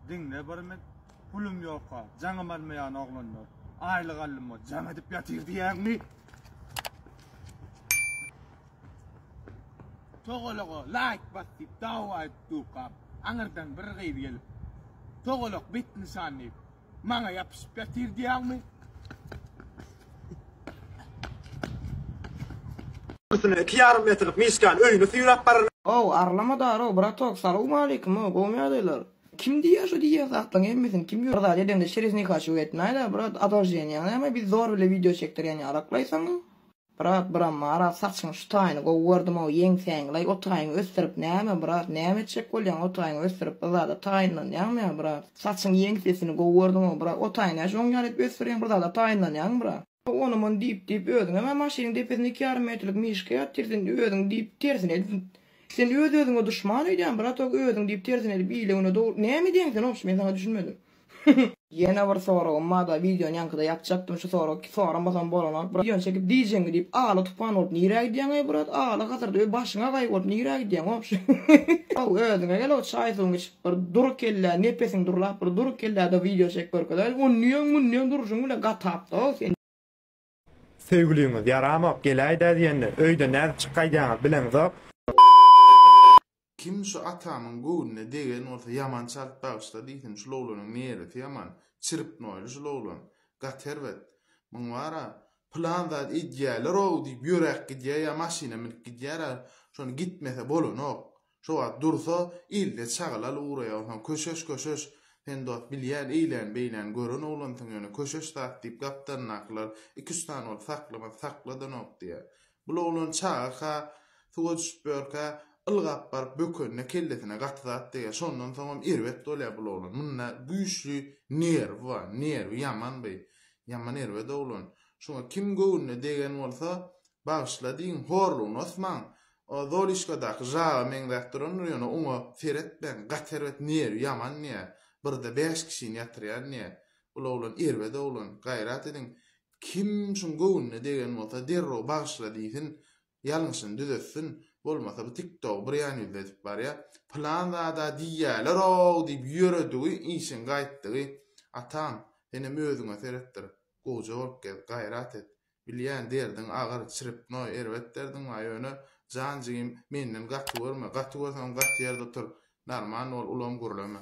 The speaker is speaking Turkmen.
Diňle bir mit, Pulum ýoka, jaňym almaýan oglanlar. Aýlyk aldyma jaň edip ýatyr diýýäňmi? Togalaga laýk bas diýip dawa edip durkam, aňyrdan bir gyz gelip, Togalak bet nyşan diýip, Maňa ýapyşyp ýatyr diýýäňmi? Üstüne iki ýarym metrlik Mişkan öýüne süýräp barar. How, arlama daro, bratok, salowmaleýkim, how, gowumy ýagdaýlar? Kim diýýär şu diýýän zatlaryň hemmesini, kim ýör? Bir zat edemde çerez nikaçylyk etmäýler, brat, adolženiýaň näme, biz zor bile wideo çekdirýän ýalaklaýsaň, Brat bram maral saçyň şu taýyny gowy gördümow ýeňsäňlaý otaýyňy ösdürip näme brat näme etjek bolýaň otaýyňy ösdürip yzada taýynlanýaňmya brat saçyň ýeňsesini gowy gördümow brat otaýy näçe oň ýaly edip ösdürýäň bir zada taýynlanýaňmy brat. Ony mony diýip diýip özüňem a maşynyň depesinde iki ýarym metrlik mişka ýatyr sen özüň diýip tersine edip sen öz özüňe duşman öýdýäň brat ok özüň diýip tersine edip ile güne dogry näme edýäň sen ogşy men saňa düşünmedim. Ýene bir soragym barda wideony ýaňkyda ýapjakdym şu soragy soramasam bolanok brat wideony çekip diýjeňmi diýip aly tupan bolup nirä gidýäň eý brat aly hazyrda öý başyňa gaý bolup nirä gidýäň wobşem how özüňe gel how çaý suwuňy içip bir dur kellä nepesiň durlap bir dur kelläde wideo çekip görkezäýiň onniýeň munniýeň durşuň bile gatapda how sen. Söýgüliňiz ýaramok geläýdä diýende öýde nädip çyk gaýdýaňyz bileňizok. Kim şu atamyň göwnüne degen bolsa ýaman çalt bagyşla diýsin şul oglanyň neresi ýaman çirpnoýly şul oglan gaty erbet muň bara pylan zat edýäleroow diýip ýöräp gidýä ýa maşyna münüp gidýärä şony gitmese bolanok Şo wagt dursa, ilde çagalaly ugraýar, onsoň Köşeş, Köşeş, sen dost bilýän eýlän-beýläni gören oglansyň ýöne Köşeş zat diýip gapdalyndakylar iki-üç sany bolup saklamaz, sakladanok diýýär. Bul oglan çaga-ka, suwa düşüp ýörkä, ylgap baryp bökenine kellesine gaty zat degýär. Şondan soňam erbet bolýar bul oglan. Munda güýçli nerwi bar, nerwi ýaman bi, ýaman erbet oglan. Şuňa kim göwnüne degen bolsa, bagyşla diýiň, horlugyny osmaň, Zolişkadaky žaba meňzäp durandyr ýöne oňa seretmäň gaty erbet nerwi ýaman diýä birde bäş kişini ýatyrýar diýä bul oglan erbet oglan gaýrat ediň kim şuň göwnüne degen bolsa derrew bagyşla diýsin ýalňyşyny düzetsin bolmasa bu tik togy bir ýan ýüzli edip barýa pylan zada diýýälerow diýip ýöredigi işiň gaýtdygy atam senem özüňe seretdir gowja bolup gez gaýrat et Bilýän derdiň agyr, çrpnoý, erbet derdiň bar, ýöne, jan jigim, menden gaty görme, gaty görseňem gaty ýerde otur, narman bol, ulam gürleme.